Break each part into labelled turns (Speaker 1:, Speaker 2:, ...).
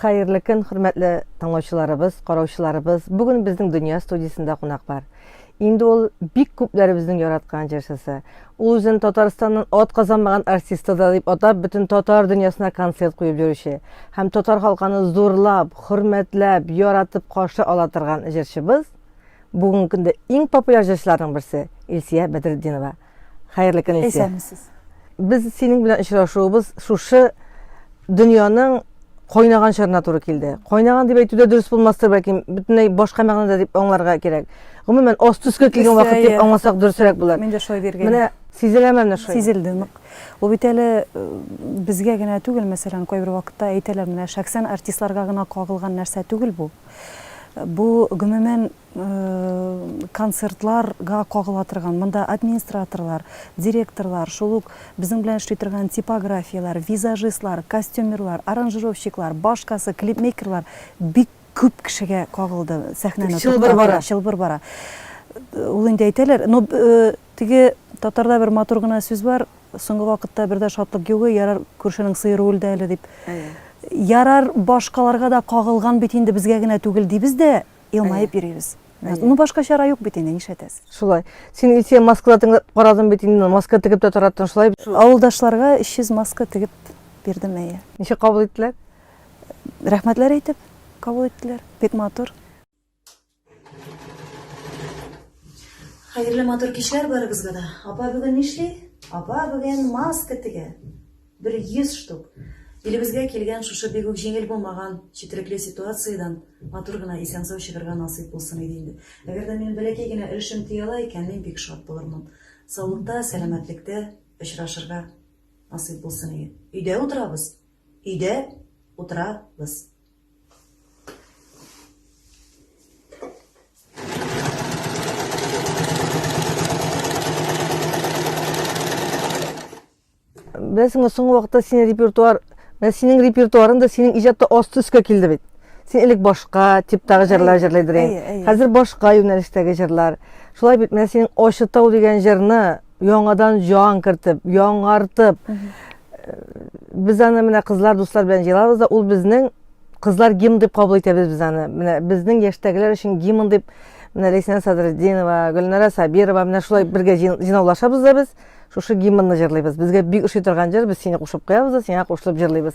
Speaker 1: Хәерле көн, хөрмәтле тыңлаучыларыбыз, караучыларыбыз. Бүген безнең Дөнья студиясендә кунак бар. Инде ул бик күпләребезнең яраткан җырчысы. Ул үзен Татарстаннан ат казанмаган артисты да дип атап, бөтен татар дөньясына концерт куеп йөрүче һәм татар халканы зурлап, хөрмәтләп, яратып каршы ала торган җырчыбыз Бүгенге көндә иң популяр җырчыларның берсе Илсия Бәдретдинова. Хәерле көн, Илсия. Исәнмесез.
Speaker 2: Без синең
Speaker 1: белән очрашуыбыз шушы дөньяның кайнаган чорына туры килде. Кайнаган дип әйтүдә дөрес булмастыр, бәлки бөтенләй башка мәгънәдә дип аңларга кирәк. Гомумән, аст төскә килгән вакыт дип аңласак дөресрәк булыр. Мин дә шулай диргән. Менә
Speaker 2: сизеләме менә
Speaker 1: шулай? Сизелде нык.
Speaker 2: Ул бит әле э, безгә генә түгел, мәсәлән, кайбер вакытта әйтәләр, менә шәхсән артистларга гына кагылган нәрсә түгел бу. Бу, гомумән, концертларга кагыла торган. Монда администраторлар, директорлар, шул ук безнең белән эшли торган типографияләр, визажистлар, костюмерлар, аранжировщиклар, башкасы, клипмейкерлар, бик күп кешегә кагылды сәхнәне. Чылбыр бара. Чылбыр бара. Ул инде әйтәләр, но Теге татарда бер матур гына сүз бар, соңгы вакытта бер дә шатлык югы, ярар күршенең сыеры үлде әле дип. Ярар башкаларга да кагылган бит инде, безгә генә түгел дибез дә, елмаеп йөрибез. Ну башка чара юк бит инде, нишләтәсез. Шулай. Син Илсөя
Speaker 1: маскада тыңлап карадың бит инде, маска тегеп тә торатын шулай. Авылдашларга 300
Speaker 2: маска тегеп бирдем, әйе. Ничек кабул иттеләр? Рәхмәтләр әйтеп кабул иттеләр. Бик матур.
Speaker 3: Хәерле матур кичләр барыбызга да. Апа бүген нишли? Апа бүген маска тегә. Бер 100 штук. Илебезгә килгән шушы бигүк җиңел булмаган четерекле ситуациядән матур гына исән-сау чыгарга насыйп булсын иде инде. Әгәр дә минем бәләкәй генә өлешем тия ала икән, мин бик шат булырмын. Саулыкта, сәламәтлектә очрашырга насыйп булсын иде. Өйдә утырабыз. Өйдә утырабыз.
Speaker 1: Бәсең о соңгы вакытта синең репертуар, менә синең репертуарың да синең иҗатта асты өскә килде бит. Син элек башка типтагы җырлар җырлый идең. Хәзер башка юнәлештәге җырлар. Шулай бит менә синең Ачытау дигән җырны яңадан җан кертеп, яңартып, Без аны менә кызлар дуслар белән җыйлабыз да, ул безнең кызлар гимн дип кабул итәбез без аны. Менә безнең яшьтәгеләр өчен гимн дип менә Ләйсән Садретдинова, Гөлнара Сабирова менә шулай бергә җыйнаулашабыз да без. Шушы гимнны җырлыйбыз. Безгә бик ошый торган җыр, без сине кушып куябыз да, сиңа кушылып җырлыйбыз.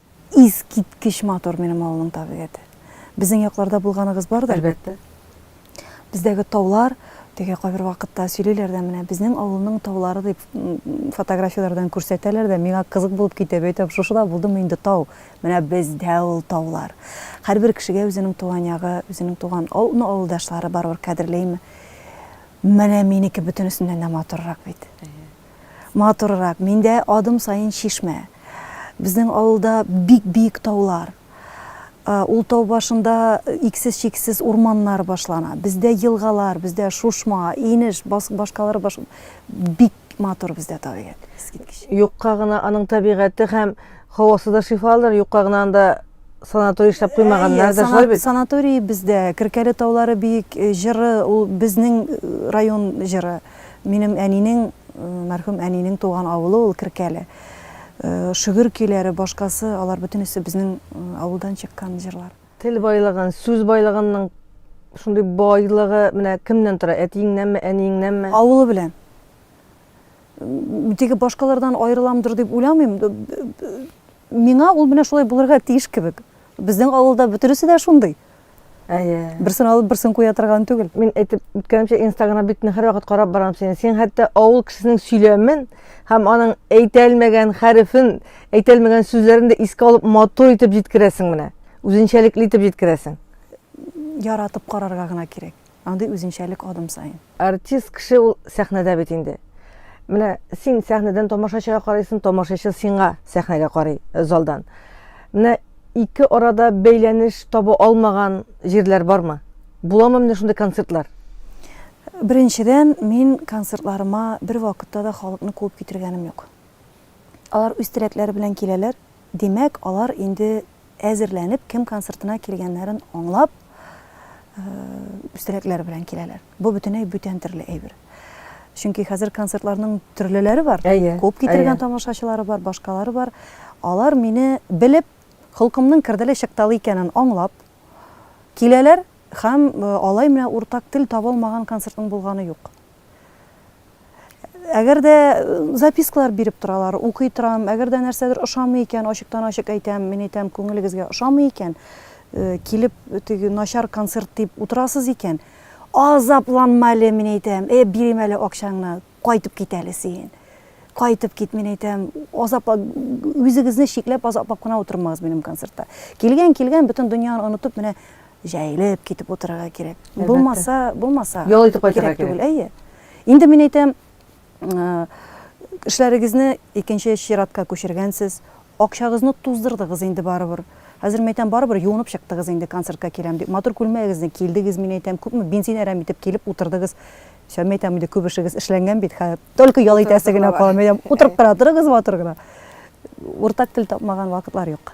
Speaker 1: Искиткеч
Speaker 2: матур минем авылның табигате. Безнең якларда булганыгыз бар да? Әлбәттә.
Speaker 1: Бездәге
Speaker 2: таулар, теге кайбер вакытта сөйлиләр дә менә безнең авылның таулары дип фотографияләрдән күрсәтәләр дә, миңа кызык булып китә, әйтәм, шушы да булдымы инде тау? Менә бездә ул таулар. Һәрбер кешегә үзенең туган ягы, үзенең туган авылдашлары барыбер кадерлейме? Менә минеке бөтенесеннән дә матуррак бит. матуррак, миндә адым саен чишмә. Безнең авылда бик биек таулар. Ул тау башында иксез-чиксез урманнар башлана. Бездә елгалар, бездә шушма, инеш, башкалар баш бик матур бездә табигать. Юкка гына аның
Speaker 1: табигате һәм һавасы да шифалыдыр, юкка гына анда санаторий эшләп куймаганнар да шулай бит. Санаторий бездә,
Speaker 2: Керкәле таулары биек җыры, ул безнең район җыры. Минем әнинең, мәрхүм әнинең туган авылы ул Керкәле. Шөгер көйләре, башкасы, алар бөтенесе безнең авылдан чыккан җырлар. Тел байлыгын,
Speaker 1: сүз байлыгынның шундый байлыгы менә кемнән тора, әтиеңнәнме, әниеңнәнме? Авылы белән.
Speaker 2: Теге башкалардан аерыламдыр дип уйламыйм. Миңа ул менә шулай булырга тиеш кебек. Безнең авылда бөтенесе дә шундый. Әйе.
Speaker 1: Берсен алып, берсен
Speaker 2: куя торган түгел. Мин әйтеп үткәнемчә,
Speaker 1: Инстаграм битне һәрвакыт карап барам синең. Син хәтта авыл кешесенең сөйләмен һәм аның әйтә алмаган хәрефен, әйтә алмаган сүзләрен дә искә алып, матур итеп җиткерәсең менә. Үзенчәлекле итеп җиткерәсең. Яратып
Speaker 2: карарга гына кирәк. андый үзенчәлек адым саен. Артист кеше ул
Speaker 1: сәхнәдә бит инде. Менә син сәхнәдән тамашачыга карыйсың, тамашачы сиңа сәхнәгә карый залдан. Менә ике арада бәйләнеш таба алмаган җирләр бармы? Буламы менә шундый концертлар?
Speaker 2: Беренчедән, мин концертларыма бервакытта да халыкны куып китергәнем юк. Алар үз теләкләре белән киләләр, Димәк, алар инде әзерләнеп, кем концертына килгәннәрен аңлап, өстәләкләр белән киләләр. Бу бөтенләй бүтән төрле әйбер. Чөнки хәзер концертларның төрлеләре бар. Әйе. Күп китергән тамашачылары бар, башкалары бар. Алар мине белеп, холкымның керделе чыкталы икәнен аңлап киләләр һәм алай менә уртак тел табалмаган концертның булганы юк. Әгәр дә запискалар биреп торалар, укый торам, әгәр дә нәрсәдер ошамый икән, ачыктан-ачык әйтәм, мин әйтәм, күңелегезгә ошамый икән, килеп, теге начар концерт дип утырасыз икән, азапланма әле, мин әйтәм, э, бирим әле акчаңны, кайтып кит әле син. Кайтып кит, мин әйтәм, азапла, үзегезне чикләп, азаплап кына утырмагыз минем концертта. Килгән, килгән, бөтен дөньяны онытып, менә Җәелеп китеп утырырга кирәк. Әлбәттә. Булмаса, булмаса. Ял итеп кайтырга кирәк.
Speaker 1: Түгел, әйе. Инде
Speaker 2: мин әйтәм, эшләрегезне икенче чиратка күчергәнсез, акчагызны туздырдыгыз инде барыбер. Хәзер мин әйтәм, барыбер юынып чыктыгыз инде концертка киләм дип. Матур күлмәгегезне килдегез, мин әйтәм, күпме бензин әрәм итеп килеп утырдыгыз. Сәм әйтәм, инде күп эшегез эшләнгән бит, хәзер только ял итәсе генә кала. Мин әйтәм, утырып кына торыгыз матур гына. Уртак тел тапмаган вакытлар юк.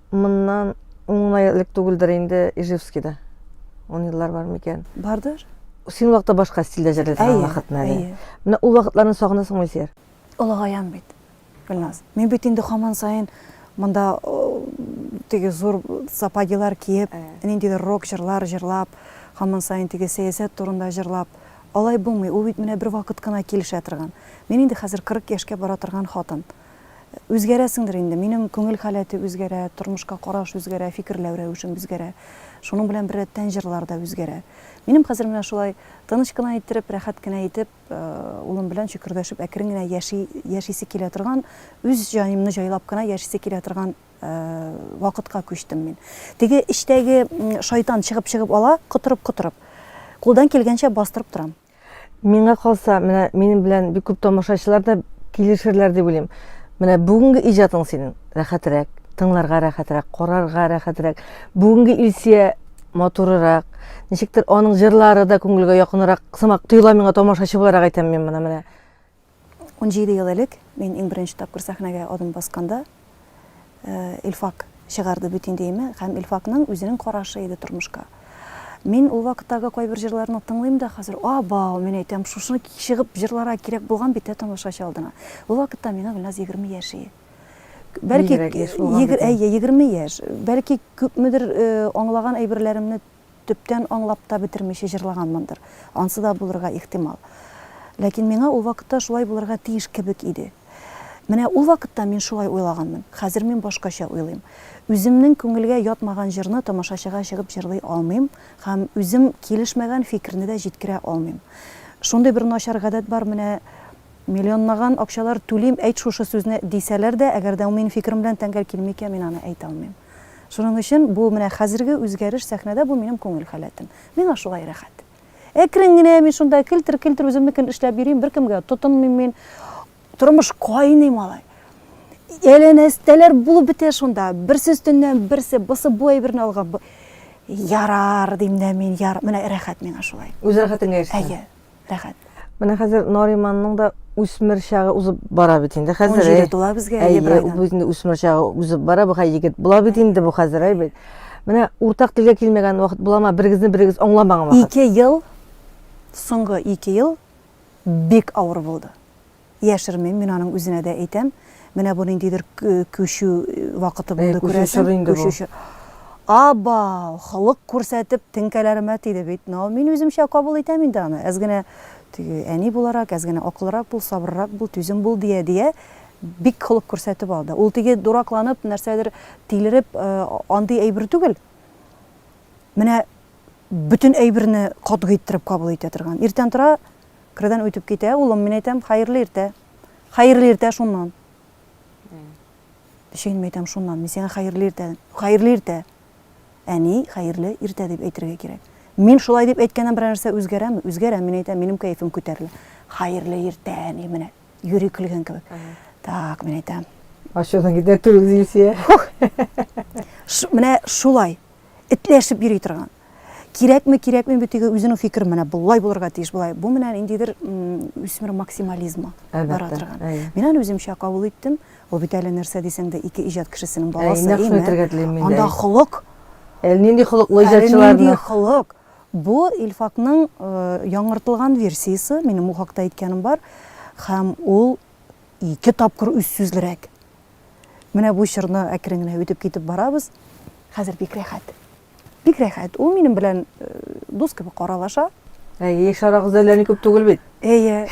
Speaker 1: Моннан ун гына элек түгелдер инде Ижевскийда. Ун еллар бар микән? Бардыр.
Speaker 2: Син вакытта башка
Speaker 1: стильдә җырлый торган вакытны әле. Менә ул
Speaker 2: вакытларны
Speaker 1: сагынасыңмы, Илсияр? Олыгаям бит,
Speaker 2: Гөлназ. Мин бит инде хаман саен монда теге зур сапогилар киеп, ниндидер рок җырлар җырлап, хаман саен теге сәясәт турында җырлап, алай булмый. Ул бит менә бер вакыт кына килешә торган. Мин инде хәзер 40 яшькә бара торган хатын. Үзгәрәсеңдер инде. Минем күңел халәте үзгәрә, тормышка караш үзгәрә, фикерләү рәвешем үзгәрә. Шуның белән беррәттән җырлар да үзгәрә. Минем хәзер менә шулай тыныч кына иттереп, рәхәт кенә итеп, улым белән чөкердәшеп әкрен генә яши, яшисе килә торган, үз җаемны җайлап кына яшисе килә торган вакытка күчтем мин. Теге эчтәге шайтан чыгып-чыгып ала, котырып-котырып. Кулдан килгәнчә бастырып торам. Миңа калса,
Speaker 1: менә минем белән бик күп тамашачылар да килешерләр дип уйлыйм. Менә бүгенге иҗатың синең рәхәтрәк, тыңларга рәхәтрәк, карарга рәхәтрәк. Бүгенге Илсия матурырак. Ничектер аның җырлары да күңелгә якынрак сымак тоела миңа тамашачы буларак әйтәм мин моны менә.
Speaker 2: Унҗиде ел элек мин иң беренче тапкыр сәхнәгә адым басканда, Илфак чыгарды бөтен идеямә һәм Илфакның үзенең карашы иде тормышка. Мин ул вакыттагы кайбер җырларны тыңлыйм да хәзер, Абау, мин әйтәм, шушыны чыгып җырларга кирәк булган бит, ә тамашачы алдына. Ул вакытта миңа Гөлназ егерме яшь ие. Бәлки, егерме яшь, бәлки күпмедер аңлаган әйберләремне төптән аңлап та бетермичә җырлаганмындыр, ансы да булырга ихтимал. Ләкин миңа ул вакытта шулай булырга тиеш кебек иде. Менә ул вакытта мин шулай уйлаганмын, хәзер мин башкача уйлыйм. Үземнең күңелгә ятмаган җырны тамашачыга чыгып җырлый алмыйм һәм үзем килешмәгән фикерне дә җиткерә алмыйм. Шундый бер начар гадәт бар, менә миллионлаган акчалар түлим, әйт шушы сүзне, дисәләр дә, әгәр дә ул минем фикерем белән тәңгәл килми икән, мин аны әйтә алмыйм. Шуның өчен бу менә хәзерге үзгәреш сәхнәдә бу минем күңел халәтем. Миңа шулай рәхәт. Әкрен генә мин шунда келтер-келтер үземнекен эшләп йөрим, беркемгә тотынмыйм мин. Тормыш кайный малай. Әләнәстәләр булып бетә шунда. Берсе өстеннән берсе, бысы бу әйберне алган. Ярар, дим дә мин, яр, менә рәхәт миңа шулай. Үз рәхәтеңә ирешсәң. Әйе.
Speaker 1: Рәхәт.
Speaker 2: Менә хәзер
Speaker 1: Нариманның да үсмер чагы узып бара бит инде хәзер. Җиде э, тула безгә әйе бер
Speaker 2: айдан. Бу инде үсмер чагы
Speaker 1: узып бара, бу хәзер егет була бит инде бу хәзер әй бит. Менә уртак телгә килмәгән вакыт булама, берегезне берегез аңламаган вакыт. Ике ел
Speaker 2: соңгы ике ел бик авыр булды. Яшермим, мин аның үзенә дә әйтәм. Менә бу ниндидер күчү вакыты булды, күрәсең. Күчү чоры инде бу. Абау, холык күрсәтеп, теңкәләремә тиде бит. Но мин үземчә кабул итәм инде аны. Әз генә теге әни буларак, әз генә акыллырак бул, сабыррак бул, түзем бул, дия, дия, бик холык күрсәтеп алды. Ул теге дуракланып, нәрсәдер тилереп, андый әйбер түгел. Менә бөтен әйберне катгый иттереп кабул итә торган. Иртән тора, Кердән үтеп китә, улым, мин әйтәм, хәерле иртә. Хәерле иртә шуннан. Ничек инде мин әйтәм шуннан, мин сиңа хәерле иртә. Хәерле иртә. Әни, хәерле иртә дип әйтергә кирәк. Мин шулай дип әйткәннән берәр нәрсә үзгәрәме? Үзгәрә, мин әйтәм, минем кәефем күтәрелә. Хәерле иртә, әни, менә юри көлгән кебек. Так, мин әйтәм. Ачудан китә
Speaker 1: түгел, Зилсия.
Speaker 2: Менә шулай. этләшеп йөри торган. Кирәкме, кирәкми бу теге үзенең фикере менә болай булырга тиеш, болай. Бу менә ниндидер үсмер максимализмы бара торган. Мин аны үземчә кабул иттем. Ул бит әле нәрсә дисәң дә ике иҗат кешесенең баласы, әйеме? Әйе, нәкъ шуны әйтергә телим мин дә. Анда холык. Әле нинди
Speaker 1: холыклы иҗатчыларны. Әле нинди холык.
Speaker 2: Бу Илфакның яңартылган версиясе, минем бу хакта әйткәнем бар. Һәм ул ике тапкыр үзсүзлерәк. Менә бу чорны әкрен генә үтеп китеп барабыз. Хәзер бик рәхәт. Бик рәхәт. Ул минем белән э, дус кебек каралаша. Әйе, шарагыз
Speaker 1: әллә ни күп түгел бит. Әйе.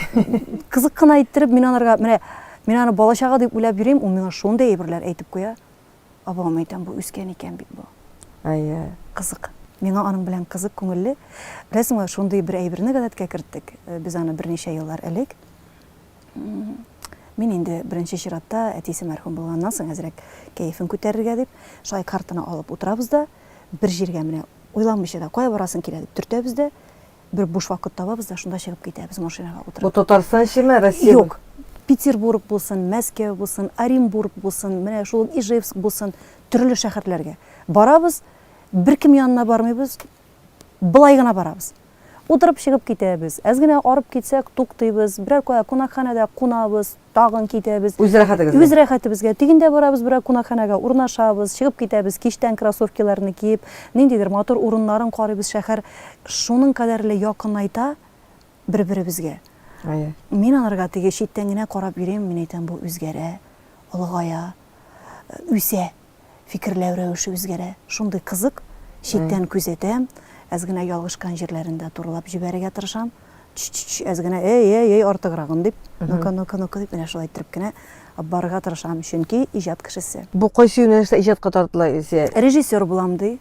Speaker 2: Кызык кына иттереп мин анарга менә мин аны бала чага дип уйлап йөрим, ул миңа шундый әйберләр әйтеп куя. Абам әйтәм, бу үскән икән бит бу. Әйе. Кызык. Миңа аның белән кызык, күңелле. Беләсеңме, шундый бер әйберне гадәткә керттек. Э, без аны берничә еллар элек Мин инде беренче чиратта әтисе мәрхүм булганнан соң әзрәк кәефен күтәрергә дип, шулай картына алып утырабыз да, бер җиргә менә уйланмыйча да, кая барасың килә дип төртәбез дә, бер буш вакыт табабыз да, шунда чыгып китәбез машинага утырып. Бу Татарстан эчеме,
Speaker 1: Россия? Юк, Петербург
Speaker 2: булсын, Мәскәү булсын, Оренбург булсын, менә шул ук Ижевск булсын, төрле шәһәрләргә барабыз, беркем янына бармыйбыз, Болай гына барабыз. Утырып чыгып китәбез. Әз генә арып китсәк, туктыйбыз. Берәр кая кунакханәдә кунабыз, тагын китәбез. Үз рәхәтегезгә. Үз
Speaker 1: рәхәтебезгә. Тегендә
Speaker 2: барабыз, берәр кунакханәгә урнашабыз, чыгып китәбез, кичтән кроссовкиларны киеп, ниндидер матур урыннарын карыйбыз. Шәһәр шуның кадәрле якынайта бер-беребезгә. Әйе. Мин аларга теге читтән генә карап йөрим, мин әйтәм, бу үзгәрә, олыгая, үсә. фикерләү рәвеше үзгәрә. Шундый кызык, читтән күзәтәм, әз генә ялгышкан җирләрен дә турылап җибәрергә тырышам. Чү-чү-чү, әз генә, әй-әй-әй, артыграгын дип, ну-ка, ну-ка, ну-ка дип, менә шулай иттереп кенә барырга тырышам, чөнки иҗат кешесе. Бу кайсы юнәлештә
Speaker 1: иҗатка тартыла Илсөя? Режиссер булам ди,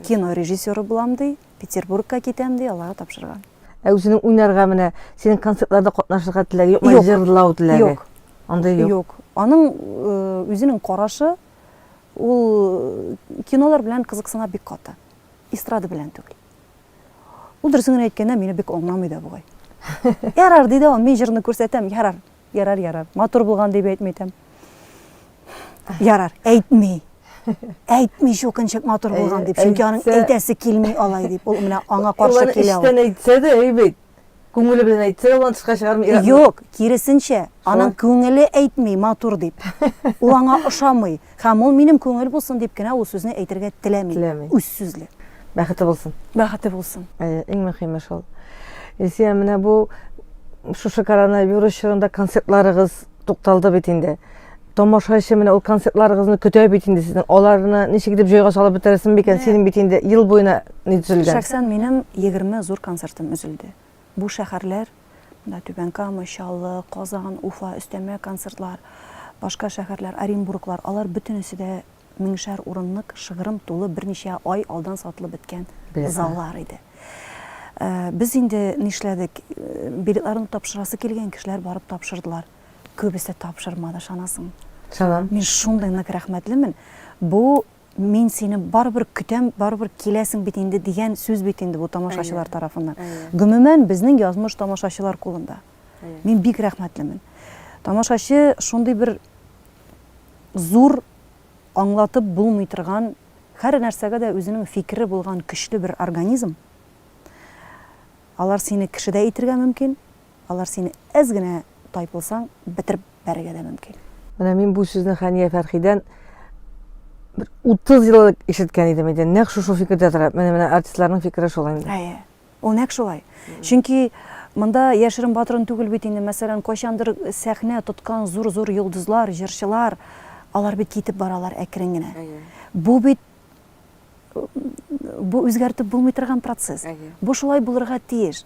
Speaker 2: кино режиссеры булам ди. Петербургка китәм ди, аларга тапшырган. Ә үзенең уйнарга
Speaker 1: менә синең концертларда катнашырга теләге юкмы? Юк. Җырлау теләге. Юк. Андый юк.
Speaker 2: Юк.
Speaker 1: Аның
Speaker 2: э, үзенең карашы ул э, кинолар белән кызыксына бик каты. Эстрада белән түгел. Ул дөресен генә әйткәндә мине бик аңламый да бугай. Ярар, ди дә ул, мин җырны күрсәтәм, ярар. Ярар, ярар. Матур булган дип әйтми итәм. Ярар, әйтми. Әйтми чукынчык матур булган дип. Чөнки аның әйтәсе килми алай дип. Ул менә аңа каршы килә. Ул эштән әйтсә дә, әйбәт.
Speaker 1: Күңеле белән әйтсә дә, ул тышка чыгармый. Юк, киресенчә,
Speaker 2: аның күңеле әйтми матур дип. Ул аңа ошамый. Һәм ул минем күңел булсын дип кенә ул сүзне әйтергә теләми. Теләми. Үз сүзле. Бәхете булсын.
Speaker 1: Бәхете булсын.
Speaker 2: Әйе, иң мөһиме шул.
Speaker 1: Илсия, менә бу шушы коронавирус чорында концертларыгыз тукталды бит инде. Тамашачы менә ул концертларыгызны көтә бит инде сезнең. Аларны ничек итеп җайга салып бетерәсең микән? Синең бит инде ел буена ни төзелгән. Шәхсән минем
Speaker 2: 20 зур концертым өзелде. Бу шәһәрләр, менә Түбән Кама, Чаллы, Казан, Уфа, өстәмә концертлар, башка шәһәрләр, Оренбурглар, алар бөтенесе дә меңшәр урынлык, шыгрым тулы, берничә ай алдан сатылып беткән заллар иде. Без инде нишләдек, билетларны тапшырасы килгән кешеләр барып тапшырдылар. Күбесе тапшырмады, ышанасыңмы? Ышанам. Мин
Speaker 1: шундый нык
Speaker 2: рәхмәтлемен. Бу Мин сине барыбер көтәм, барыбер киләсең бит инде дигән сүз бит инде бу тамашачылар тарафыннан. Гомумән, безнең язмыш тамашачылар кулында. Мин бик рәхмәтлемен. Тамашачы шундый бер зур, аңлатып булмый торган, һәр нәрсәгә дә үзенең фикере булган көчле бер организм. Алар сине кеше дә итергә мөмкин, Алар сине әз генә тайпылсаң бетереп бәрергә дә мөмкин. Менә мин бу сүзне
Speaker 1: Хәния Фәрхидән бер 30 ел элек ишеткән идем иде. Нәкъ шушы фикердә тора. Менә менә артистларның фикере шул инде. Әйе. Ул нәкъ шулай.
Speaker 2: Чөнки монда яшерен батырын түгел бит инде. Мәсәлән, кайчандыр сәхнә тоткан зур-зур йолдызлар, җырчылар, алар бит китеп баралар әкрен генә. Бу бит бу үзгәртеп булмый торган процесс. Бу шулай булырга тиеш.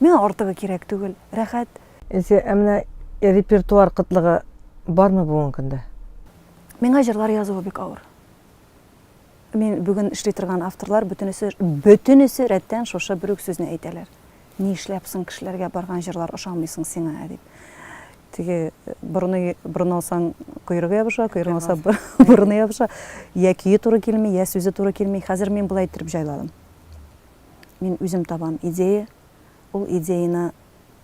Speaker 2: Миңа артыгы кирәк түгел, рәхәт. Илсөя, ә
Speaker 1: менә репертуар кытлыгы бармы бүгенге көндә? Миңа
Speaker 2: җырлар язуы бик авыр. Мин бүген эшли торган авторлар бөтенесе, бөтенесе рәттән шушы бер үк сүзне әйтәләр. Ни эшләп соң кешеләргә барган җырлар ошамый соң сиңа, ә дип. Теге борыны, борын алсаң, койрыгы ябыша, койрыгын алса, борыны ябыша. Йә көе туры килми, йә сүзе туры килми. Хәзер мин болай иттереп җайладым. Мин үзем табам идея, ул идеяны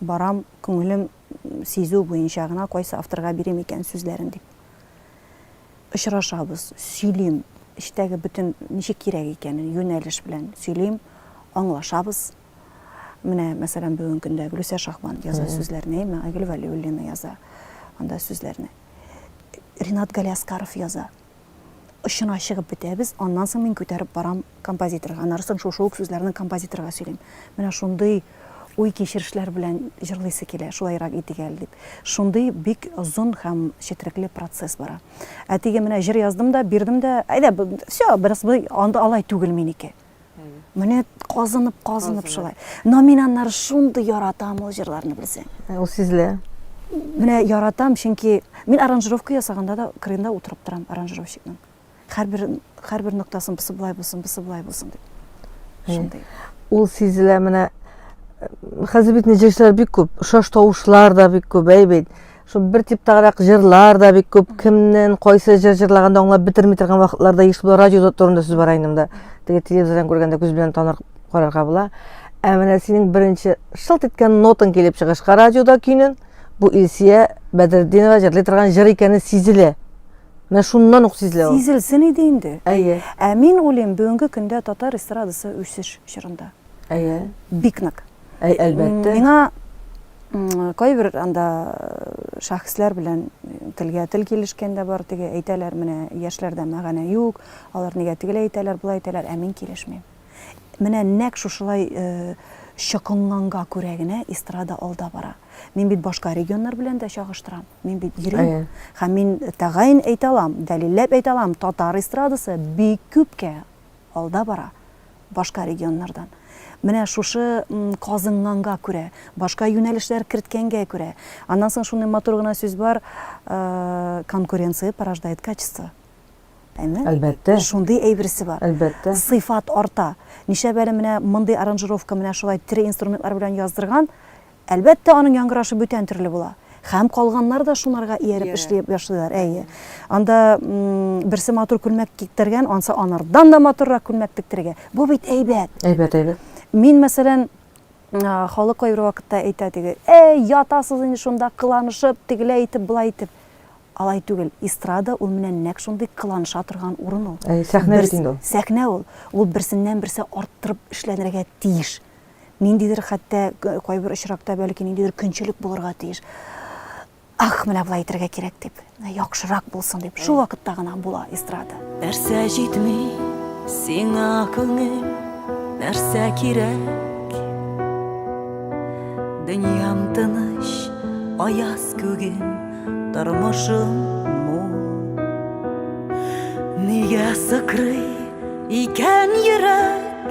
Speaker 2: барам, күңелем, сизү буенча гына кайсы авторга бирим икән сүзләрен дип. Очрашабыз, сөйлим, эчтәге бөтен ничек кирәк икәнен, юнәлеш белән сөйлим, аңлашабыз. Менә, мәсәлән, бүген көндә Гөлүсә Шахбан яза сүзләрне, Мәгәгөл Вәлиуллина яза анда сүзләрне. Ринат Галиаскаров яза. очына чыгып бетәбез, аннан соң мин күтәреп барам композиторга, аннары соң шушы ук сүзләрне композиторга сөйлим. Менә шундый уй-кичерешләр белән җырлыйсы килә, шулайрак итик әле дип. Шундый бик озын һәм четерекле процесс бара. Ә теге менә җыр яздым да, бирдем дә, әйдә, все, бераз алай түгел минеке. Менә казынып, казынып шулай. Номинаннар шундый яратам ул җырларны белсәң. Э, ул сизелә.
Speaker 1: Менә
Speaker 2: яратам, чөнки мин аранжировка ясаганда да крында утырып торам аранжировщикның. Һәрбер һәрбер ноктасын бусы былай булсын, бусы былай
Speaker 1: булсын дип.
Speaker 2: Э, шундый. Ул сизелә менә
Speaker 1: э, хәзер бит җырчылар бик күп, шаш тавышлар да бик күп, әй бит. Шул бер типтагырак җырлар да бик күп. Кемнен кайсы җыр җырлаганда аңлап бетерми торган вакытларда еш була. Радио турында сүз бара инде Теге телевизордан күргәндә күз белән таныр карарга була. Ә менә синең беренче шылт иткән нотың килеп чыгышка радиода көйнен бу Илсия Бәдретдинова җырлый торган җыр икәне сизелә. Менә шуннан ук сизелә ул. Сизелсен иде инде.
Speaker 2: Әйе. Ә мин
Speaker 1: уйлыйм,
Speaker 2: бүгенге көндә татар эстрадасы үсеш чорында. Әйе.
Speaker 1: Бик нык.
Speaker 2: Әй, әлбәттә. Миңа кайбер анда э, шәхесләр белән телгә тел килешкән дә бар, теге әйтәләр, менә яшьләрдә мәгәнә юк, алар нигә тегеләй әйтәләр, болай әйтәләр, ә мин килешмим. Менә нәк шушылай э, чокынганга күрә генә эстрада алда бара. Мин бит башка регионнар белән дә чагыштырам. Мин бит йөрим. Һәм мин тәгаен әйтә алам, дәлилләп әйтә алам, татар эстрадасы бик күпкә алда бара. башка регионнардан. Менә шушы казынганга күрә, башка юнәлешләр керткәнгә күрә. Аннан соң шуны матур гына сүз бар, э, конкуренция порождает качество. Әйме?
Speaker 1: Әлбәттә. Шундый әйберсе
Speaker 2: бар. Әлбәттә. Сыйфат
Speaker 1: арта.
Speaker 2: Ничә бәле менә мондый аранжировка менә шулай тире инструментлар белән яздырган, Әлбәттә, аның яңгырашы бүтән төрле була. Хәм калганнар да шунарга ияреп эшли башлыйлар, әйе. Анда берсе матур күлмәк киктергән, ансы анардан да матуррак күлмәк тектерегә. Бу бит әйбәт. Әйбәт, әйбәт.
Speaker 1: Мин, мәсәлән,
Speaker 2: халык кайбер вакытта әйтә теге, әй, ятасыз инде шунда кыланышып, тегеләй итеп, былай итеп. Алай түгел. Эстрада ул менә нәкъ шундый кыланыша торган урын ул. Сәхнә бит инде ул.
Speaker 1: Сәхнә ул. Ул
Speaker 2: берсеннән-берсе арттырып эшләнергә тиеш. ниндидер хәтта кайбер очракта бәлки ниндидер көнчелек булырга тиеш ах менә болай итәргә кирәк дип яхшырак булсын дип шул вакытта гына була эстрада нәрсә җитми
Speaker 4: сиңа күңел нәрсә кирәк дөньям тыныч аяз күгем тормышым мул нигә сыкрый икән йөрәк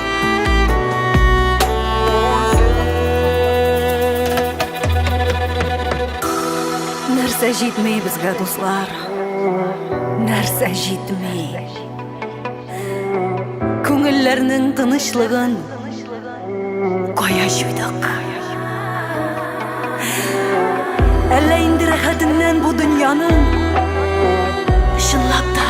Speaker 4: нәрсә җитми безгә дуслар нәрсә җитми күңелләрнең тынычлыгын кая җуйдык әллә инде рәхәтеннән бу дөньяның чынлап та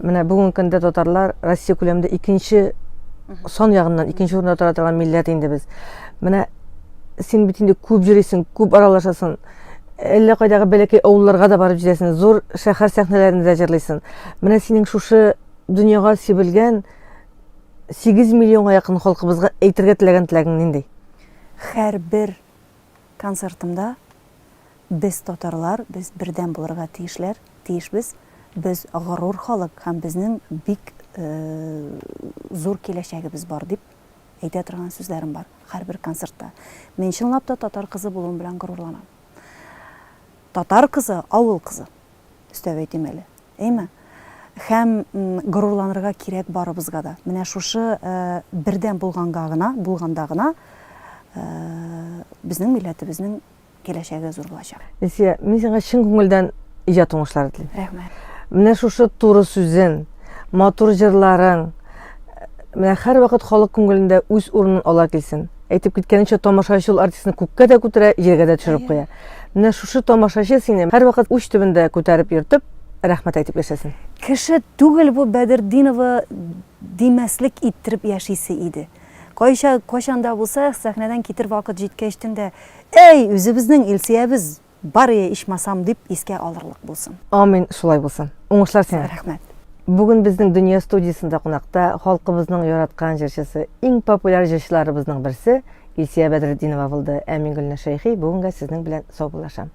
Speaker 1: Менә бүгенге көндә татарлар Россия күләмендә икенче сан ягыннан икенче урында тора торган милләт инде без. Менә син бит инде күп йөрисең, күп аралашасың. Әллә кайдагы бәләкәй авылларга да барып җитәсең, зур шәһәр сәхнәләрендә дә җырлыйсың. Менә синең шушы дөньяга сибелгән 8 миллионга якын халкыбызга әйтергә теләгән теләгең нинди? Хәрбер
Speaker 2: концертымда без татарлар, без бердәм булырга тиешләр, тиешбез, без горур халык һәм безнең бик зур киләчәгебез бар дип әйтә торган сүзләрем бар хәрбер концертта. Мин чынлап та татар кызы булуым белән горурланам. Татар кызы, авыл кызы. Өстәп әйтим әле. Әйме? Һәм горурланырга кирәк барыбызга да. Менә шушы бердәм булганга гына, булганда гына безнең милләтебезнең киләчәге зур булачак. Лесия, мин сиңа чын
Speaker 1: күңелдән иҗат уңышлары телим. Рәхмәт. Менә
Speaker 2: шушы
Speaker 1: туры сүзен, матур җырларың, Менә һәрвакыт халык күңелендә үз урынын ала килсен. Әйтеп киткәнчә, тамашачы ул артистны күккә дә күтәрә, җиргә дә төшереп куя. Менә шушы тамашачы сине һәрвакыт уч төбендә күтәреп йөртеп, рәхмәт әйтеп яшәсен. Кеше түгел
Speaker 2: бу Бәдертдинова димәслек иттереп яшисе иде. Кайча, кайчан да булса, сәхнәдән китер вакыт җиткәч төн дә, Әй, үзебезнең Илсөябез! Барые ичмасам дип искә алырлык булсын. Амин, шулай булсын.
Speaker 1: Уңышлар сиңа. Рәхмәт. Бүген
Speaker 2: безнең
Speaker 1: Дөнья студиясендә кунакта халкыбызның яраткан җырчысы, иң популяр җырчыларыбызның берсе Илсия Бәдретдинова булды. Ә мин Гөлнур Шәйхи бүгенгә сезнең белән саубуллашам.